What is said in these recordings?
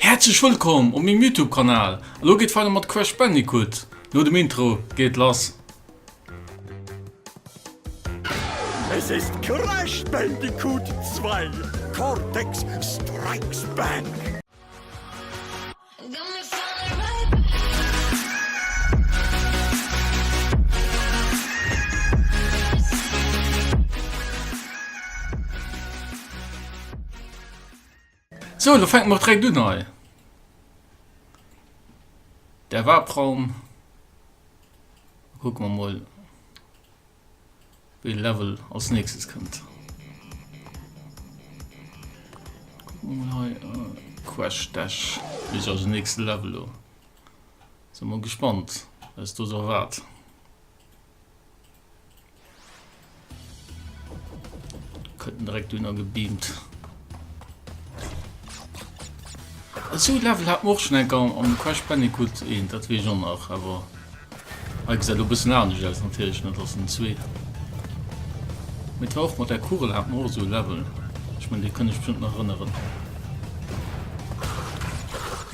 Häerzlech wëllkomm op mengem Youtube Kanal, elo geet weider mat Crash Bandicoot, no dem Intro geet et lass. Es ist Crash Bandicoot 2, Cortex Strikes Back! Sou, lo fänken mer och direkt un hei. Der Warp-Raum. Kucken mer mol, wéi de Level als nächstes kënnt. Kucken mer mol hei. Crash Dash is also den nächste Level lo. Sin mol gespannt, wéi eis do sou erwaart. Könnten direkt dünner gebeamt. Zu Level hat och schon enker am Crash Bandicoot een, dat wie schon nach, aber Ei gesäit lo bëssen anescht aus natierlech net ass den zwee. Mit war och mat der Kugel hat mor so Level. Ech mein dee kann ech bestimmt nach erinnern.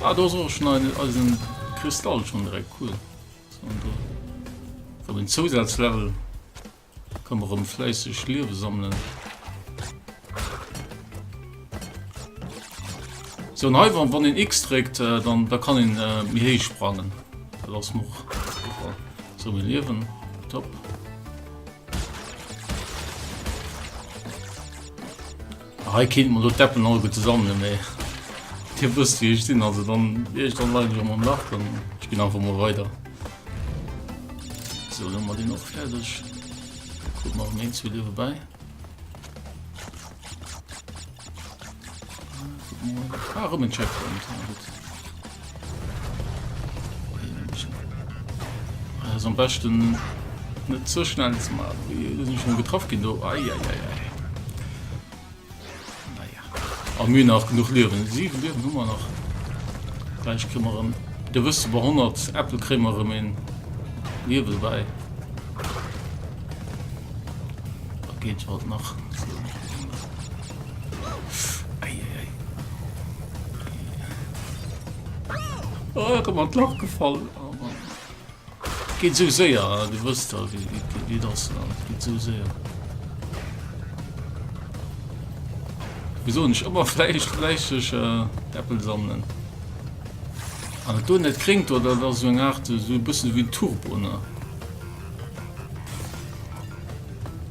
Ah do soe schon eisen Kristall schon direkt cool Wann den Zousatz Level kann mer rem fläisseg Liewe sammelen. So an hei wann den X dréckt äh, dann da kann een äh, méi héich sprangen. Dat ass mer super. So mir Liewen top. Hei kéint mer elo d'Deppen alleguer zesammenhuelen, mee Dir wësst wéi ech sinn, also dann wier ech dann leider elo mam Lach an ech ginn einfach mol weider. Sou, elo hu mer deen och fäerdeg. Kucke mer erëm een, zwee Liewe bäi. Ah, erëm en Checkpoint, na gutt. Das ist am besten nicht so schnell zu machen. Wir sind schon getroffen gehen. Oh, ai, ai, ai, ai. Naja. Am Mühe nach genug Leben. Sieben Leben haben wir noch. Vielleicht kriegen wir einen. Du wirst über 100 Äpfel kriegen wir einen Leben bei. Da geht es halt noch. Oh, komm an Loch gefallen. Oh, Mann. Geht so sehr, du wirst da, wie, wie, wie das, geht so sehr. Wieso nicht immer Fleisch, fleischig äh, Äppel sammeln? An ah, du nicht kriegt oder das so eine Art, so ein bisschen wie ein Turbo, ne?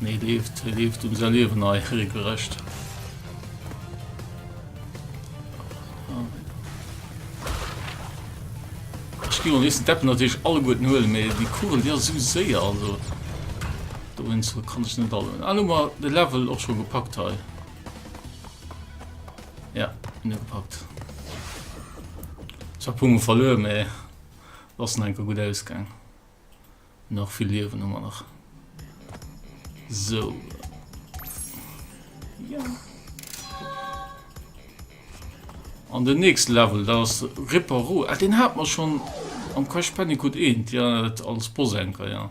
Nee, leeft, hie leeft um säi Liewen hei regelrecht. Ich gehe mal nächsten Deppen natürlich alle guten Höhlen, mehr die Kugel, die ist so sehr, also. Da bin ich so, kann ich nicht alle. Ah, nur mal den Level auch schon gepackt hei. Ja, nicht gepackt. Ich hab Punkte verloren, mehr. Lassen ein gut ausgegangen. Nach vill Liewen hu mer nach. Sou. Ja. An den nächste Level, dat ass Reparoo. Ah, den hat mer schon am Crash Bandicoot 1, ja, als Boss-Anker, ja.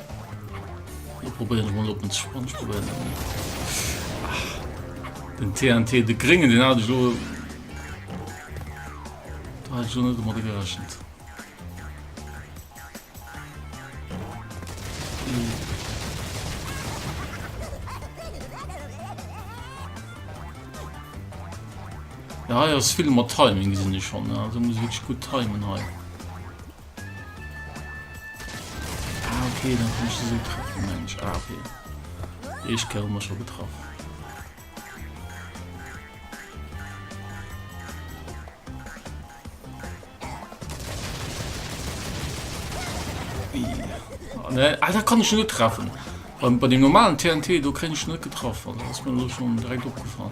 Lo probéieren ech mol op den Sponge zu brennen. Den TNT, de Gringen, den hat ech lo... Da hat ech lo net domadder gerechnet. Ja, ja, es ist viel mit Timing, sind ich schon. Also muss ich wirklich gut timen. Halt. Ah, okay, dann kann ich sie so treffen, Mensch. Ah, okay. Ich kann immer schon getroffen. Oh, ne, ah, da kann ich nur treffen. Bei, bei dem normalen TNT, du kann ich nicht getroffen. Das ist mir schon direkt aufgefallen.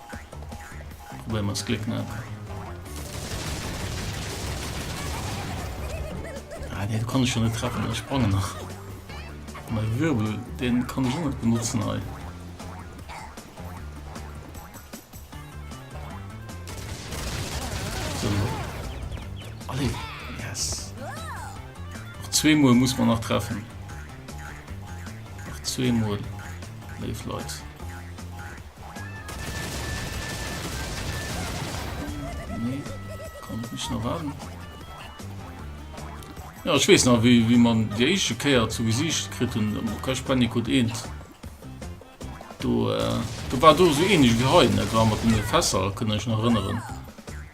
Probéieren wir ons Gléck ne. Ah, den kann ich schon nicht treffen, ich sprange nach. Mein Wirbel, den kann ich auch nicht benutzen. Halt. zweimal muss man nach treffen nach zweimal lebt Nee, komm, ich muss noch warten. Ja, ich weiß noch, wie, wie man die erste Kehr zu Gesicht kriegt und am Crash Bandicoot 1. Du, äh, du war du so ähnlich wie heute, ne? Du war mit den Fässer, kann ich noch erinnern.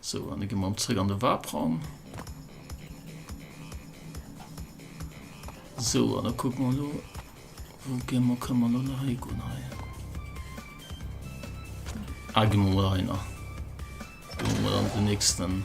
So, an dann gehen wir mal zurück an den Warp-Raum. So, dann gucken wir mal, wo gehen wir, können wir noch nach hier gehen. Ah, gehen wir mal rein. Gehen wir mal an den nächsten.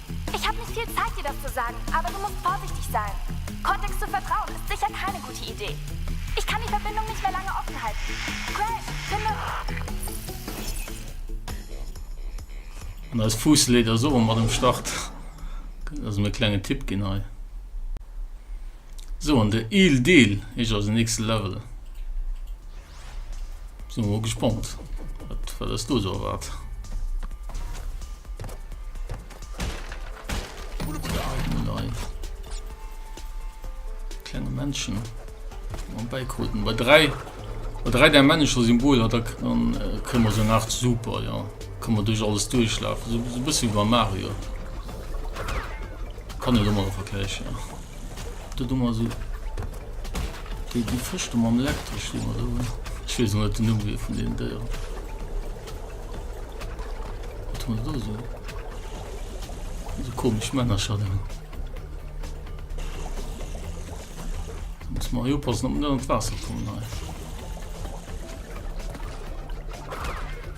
Ich hab nicht viel Zeit dir das zu sagen, aber du musst vorsichtig sein. Cortex zu vertrauen ist sicher keine gute Idee. Ich kann die Verbindung nicht mehr lange offen halten. Crash, finde. An eis Fuuss leet eis och mat um Start. Gëtt eis en klengen Tipp ginn hei. So an de eel Deel ech ass nächste Level. Sin mol gespannt wat wat ass do so erwaart. Klenge Menschen am Beikoden bei 3 bei 3 der männlecher Symbol hat er an äh, këmmer se nach super ja. Kann man duch alles duerchlafen so, so bësse wie bei Mario. Kann e lo mal vergleichen. Ja. Do do mer sou déi déi Fësch do mam Elektresch déi mer do hunn. Ech weess och net den Numm wier vun deenen Déieren. Wat hu mer do sou? Sou komesch Männercher do. Da muss mer hei oppassen, ob mer net an d'Waasser kommen hei.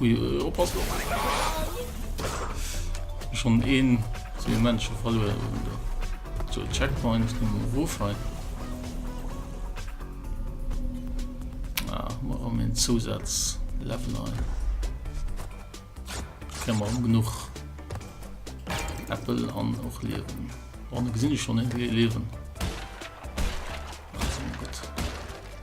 Ui, ui, oppass lo. Schon een zu den Menschen verloren. So, Checkpoint im Wofei. Ah, mal um den Zusatz Level ein. Können wir genug Apple an auch leben. Warum gesehen ich schon nicht leben?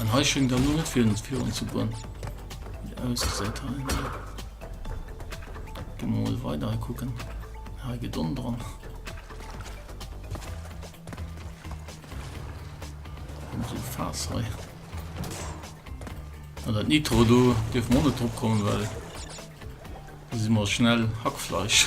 An hei schenkt dann nur net fir uns Fiun ze goen. ausgesäit ha. Du mal weiter kucken. Ha get on dran. So fast hei. An dat Nitro do Dir Monet opkommen well. Si mar schnell Hackfleisch.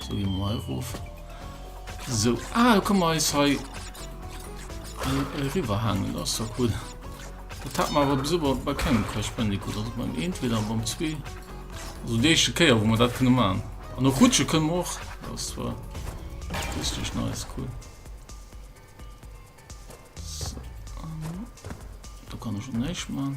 So, gehen wir mal rauf. So, ah, da können wir uns hier äh, rüberhängen. Das ist so cool. Das hat man aber bis über bei keinem Crash Bandicoot. Also beim 1 wieder, beim 2. Also die erste Kehr, wo wir das können machen. Und noch rutschen können wir auch. Das war richtig nice, cool. So, ähm, da kann ich schon nicht machen.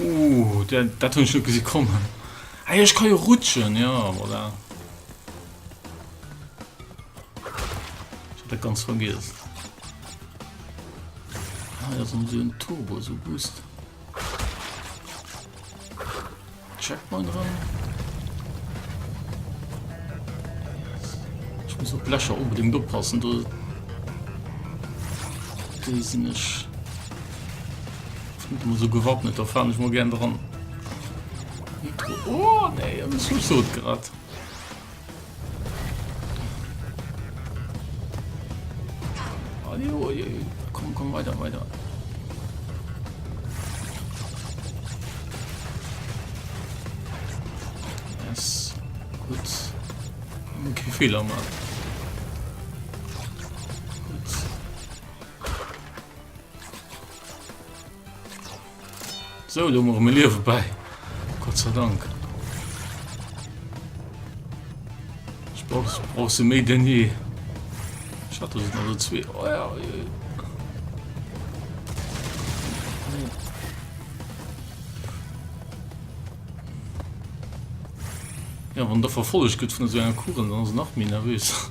Ooh, dat hun ech net gesi kommen. Ah jo, ech ka jo rutschen, ja, voilà. Ich hab dat ganz vergiss. Ah, das haben sie ein Turbo, so Boost. Checkpoint dran. Ich muss auf Blecher unbedingt oppassen, du. Die sind nicht. Mat dem esou gewappnet do faalen ech mol gären dran. Oh nee, ech muss mech dood gerett. Komm, komm, weiter, weiter. Yes. Gut. Okay, Fehler mal. So, lo moche mir Liewe bäi. Gott sei Dank. Ich brauch, brauch se méi denn je. Ich hatte se also zwee. Oh ja, oh ja. Ja, wann der verfolg gëtt vun so enger Kuren, dann ass nach méi nervös.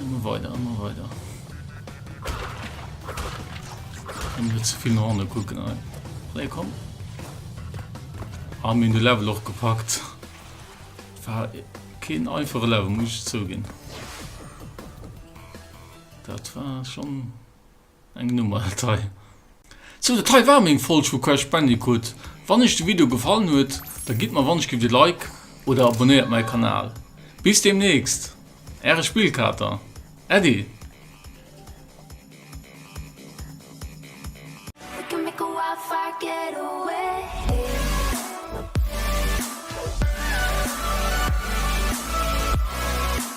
Immer weiter, immer weiter. Dann wird zu viel nach unten gucken. Hey, komm. Haben wir den Level auch gepackt. War kein einfacher Level, muss ich zugeben. Das war schon Eng Nummer dat hei. Sou dat hei war meng Folg vu Crash Bandicoot. Wann iech de Video gefallen huet, da gitt mer wannechgelift e Like oder abonnéiert mäi Kanal. Bis deemnächst, äre Spillkater Äddi.